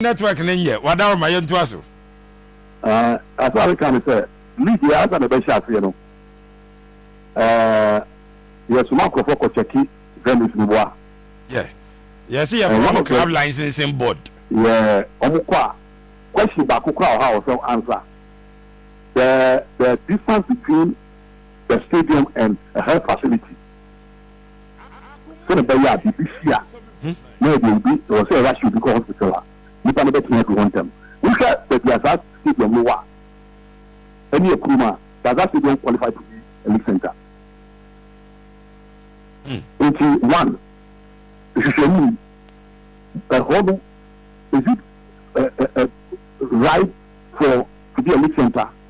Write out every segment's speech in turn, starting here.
network no nyɛ wadaw ma yɛntoa so. Aah asa reka ne sɛ league yi ansa na ɛbɛhyɛ aseɛ no ɛɛ yɛsoma nkorɔfoɔ kɔ kyɛke venues no mu a. Yeah yɛse yɛfrɛ ɔmo club licensing board. Yeah ɔmo kɔ a question baako koraa wɔhɔ a wɔsɛ wo answer the the distance between the stadium and the health facility. sɛnea ɛbɛyɛ a biribi si a, na ɛde obi, ɛwɔ sɛ yɛrahye obi kɔ hospital a, nnipa no bɛtumi adu hɔ ntɛm. Wohwɛ baabi a saa stadium no wɔ a, ɛne yɛ kurom a, Gaza Stadium qualify to be a league center. Nti, one, nhwehwɛmu yi, ɛhɔ no, is it right for to be a league center?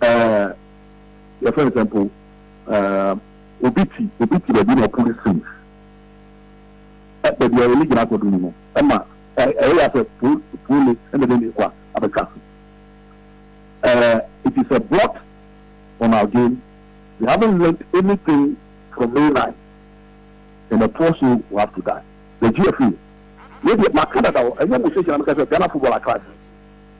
ɛɛ yɛfrɛ no sɛ mpo ɛɛ obi ti obi ti baabi na ɔpo no sin ɛ baabi a ɔyɛ ne gyina akɔdo no mu ɛma ɛyɛ yɛ sɛ po po ne ɛna de ne kwa abɛtwa so ɛɛ it is a blot on our game we haven't learned anything from May 9 and a poor soul will have to die the GFA yɛ deɛ maka dada hɔ ɛnyɛ mo sɛ gyina meka sɛ Ghana football atrase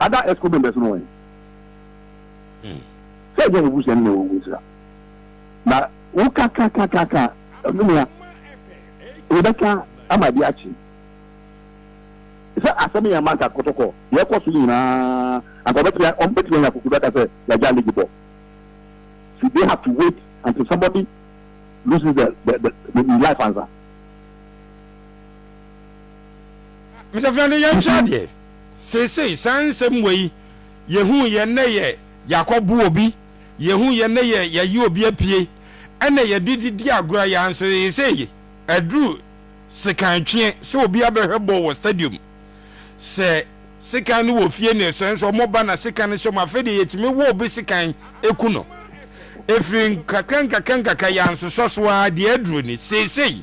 Ada ɛsko bɛ mbɛsono wɛn sɛ ɛnyɛ wo busua no na ɛwɔ wo nsira na wo ka ka ka ka ka menua wo bɛ ka ama de akye sɛ asɛm yɛ masa kɔtɔkɔ yɛ kɔ so nyinaa anka ɔbɛtia ɔmbɛtia nya kuku bɛka sɛ yagya ligi bɔ so they have to wait until somebody loses the, the, the, the life ansa Mesafena no yɛnhwɛ adeɛ seesei saa nsɛm wei yɛhu yɛ nnɛ yɛ yɛakɔ bo obi yɛhu yɛ nnɛ yɛ yɛyi obi apue ɛna yɛde di di agorɔ yɛ anso seesei aduru sekan tweɛ sɛ obi abɛhwɛ bɔɔl wɔ stadium sɛ sekan no wɔ fie ne sɛ nso ɔmo ba na sekan no hyɛ mu afei deɛ yɛtumi wɔ obi sekan eku no ɛfiri nkakra nkakra nkakra yɛ ansosɔ so ara deɛ aduru ni seesei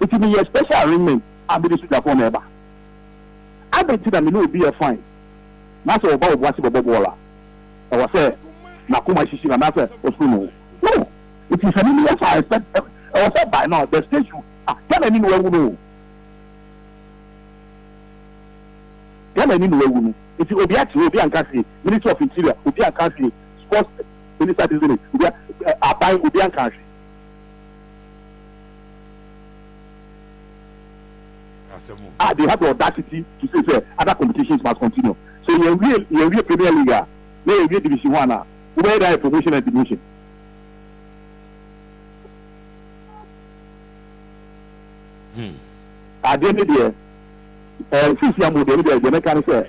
Nti me yɛ special arrangement a me de sogyafoɔ na ɛba. Adɛn nti na me ne obi yɛ fine na sɛ ɔba obo ase bɛbɔ bɔɔl a ɛwɔ sɛ n'akoma hyehye no anaasɛ ɔsuro me ho? No! Nti sɛ me meyɛ saa a expect ɛwɔ sɛ by now the stage should ah Ghana ani na wawu no o Ghana ani na wawu no nti obi akyerɛ obi anka hwee Ministry of Interior obi anka hwee Sports Minister this minute obi a aban obi anka hwee. Ah, they had the audacity to say sɛ other competitions must continue. Sɛ yɛwie yɛwie Premier League a, na yɛwie Division One a, wobɛyɛ dɛn ayɛ promotion and demotion? Adeɛ no deɛ, eh, nsinsi amu deɛ no deɛ, deɛ mɛka ne sɛ,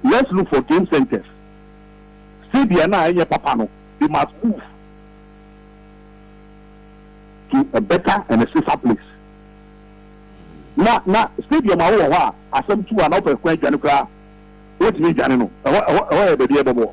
let's look for game centers. Stadium no a ɛnyɛ papa no, they must move. to a better and a safer place. Na na stadium a wowɔ hɔ a asɛm tu a na wopɛ kwan dwane koraa wontumi ndwane no, ɛhɔ ɛhɔ ɛhɔ yɛ baabi a ɛbɛbɔ.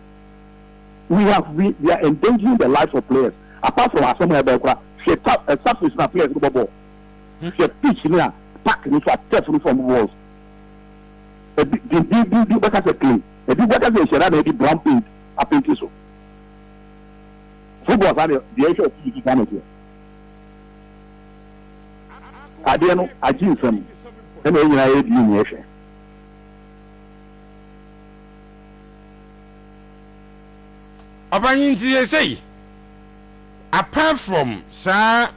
We have we we are endangering the lives of players apart from asɛm a ɛbɛn kora hwɛ ta ɛ surface na players no bɔ bɔɔl hwɛ pitch no a park no fa turf no fam walls ebi dindindin bi bɛka sɛ clay ebi bɛka sɛ nhyɛra na ɛde brown paint apenti so football saa deɛ deɛ ɛhwɛ ɔfi so saa na ɛteɛ adeɛ no agye nsam ɛna ɛnyinaa yɛ di nyɛ hwɛ. Ɔpanyin nti sɛsɛyi apart from saa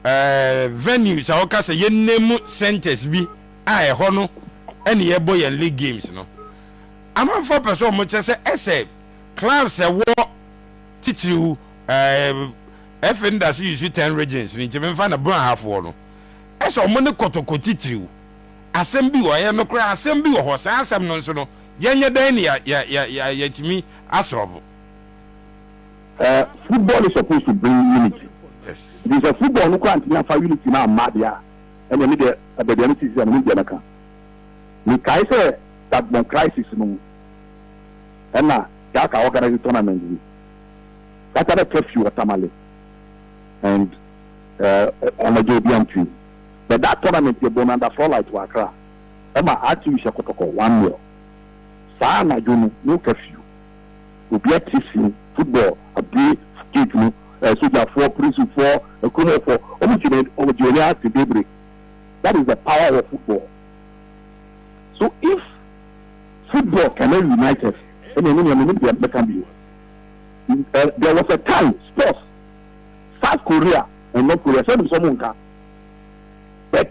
ɛɛ venues a ɔka sɛ yɛn name centers bi a ɛhɔ no ɛne yɛbɔ yɛn league games no amanfoɔ pɛ sɛ wɔn kyɛ sɛ ɛsɛ clubs ɛwɔ titiriw ɛɛ ɛfɛ nda so yusu ten regions ne nti mɛmfa na bɔn ahafoɔ no ɛsɛ wɔn ne kɔtɔkɔ titiriw asɛm bi wɔ ɛyɛ no koraa asɛm bi wɔ hɔ saa asɛm no nso no. Yɛnyɛ dɛn na yɛatumi asɔlve? Eh, football is supposed to bring unity. Yes. Nti sɛ football no koraa antumi amfa unity no amma deɛ a, ɛnneɛ me deɛ baabi a mete sisi a menim deɛ mɛka. Mekae sɛ Dagbon crisis no mu, ɛna Gaka organise tournament bi. Gaka na curfew wɔ Tamale and eh, anadwo obi antumi. But that tournament yɛbɔɔ no under floor light wɔ Accra. ɛma atsew hyɛ kɔtɔkɔ one nil. Saa anadwo no no curfew, obia tse sin football abue gate no eh, sogyafoɔ, porisifɔɔ, akuromɔfɔ, ɔmo gyina ɔmo gye ɔni ase bebre. That is the power of football. So if football cannot unite us, ɛneɛ me nua mennim deɛ mɛka bio. Eh, there was a time sports, South Korea and North Korea, sɛ wonim sɛ ɔmo nka, but.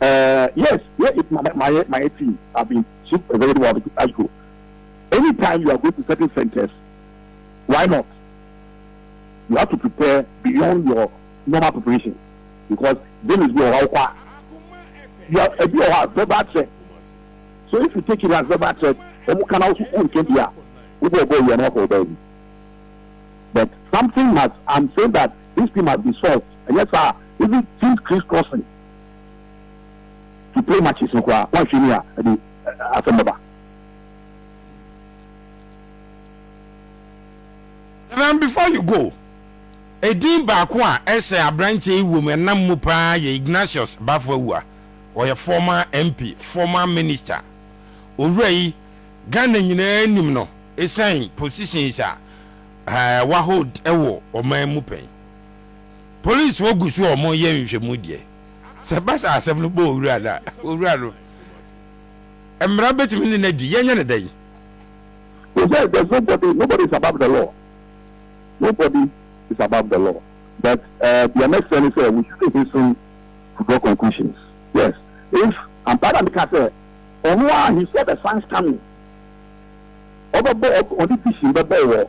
Eh yes yeah it's my my my my tea I've been shook a very while ago anytime you are going to certain centers why not you have to prepare beyond your normal preparation because Dennis bi wɔ hɔ awokɔ a you are ebi wɔ hɔ a verbal threat so if you take it as verbal threat wɔn kan awoso wɔn nka bi a wobɔ ɔbɔ owia na wɔkɔ ɔbaa bi but something must I'm saying that this thing must be solved ɛnyɛ saa even things crisscrossing. He play matches no koraa wanhwɛ ni a ɛde asɛm bɛba. Madam before you go, edin baako a ɛsɛ abranteɛ yi wom ɛnam mu paa yɛ Ignatius Baffoawua, ɔyɛ former MP, former minister. Owura yi Ghana nyinaa nim no ɛsiane positions a wa hold wɔ ɔman mu pɛn. Polisifo gu so a wɔreyɛ nhwehwɛmu deɛ, sɛ ɛba sɛ asɛm no bɔ owura no a, owura no, mmara betumi ne no adi. Yɛnyɛ no dɛn? So sɛ there's nobody, nobody is above the law, nobody is above the law but eh, deɛ mɛsrɛ ne sɛ we shouldn't hasten to draw conclusions. Yes, if ampa ara na meka sɛ ɔno ara he saw the signs coming, ɔbɛbɔ, ɔde vision bɛbɔ wɔ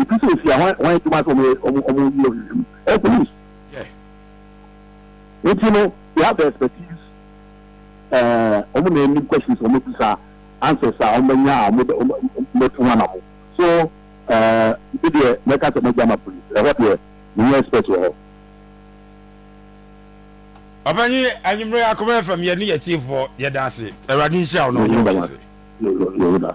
Etu so nsia hwan hwan adwuma sɛ wɔyɛ wɔn wɔn yi wɔn nhwehwɛ mu? Ɛyɛ police. Yeah. Nti no they have the expertise ɛɛ wɔn na anim questions wɔn bisa answers a wɔn bɛnya a wɔn bɛ wɔn bɛtu ho anamo so ɛɛ ebi deɛ mɛka sɛ mɛgya ma police ɛhɔ deɛ menyɛ expert wɔ hɔ. Ɔpanyin anwummere akoma fam yɛ ne yɛ tiefoɔ yɛda ase awurade nhyira wo na ɔnyɛ wo kɛse. Yɛda.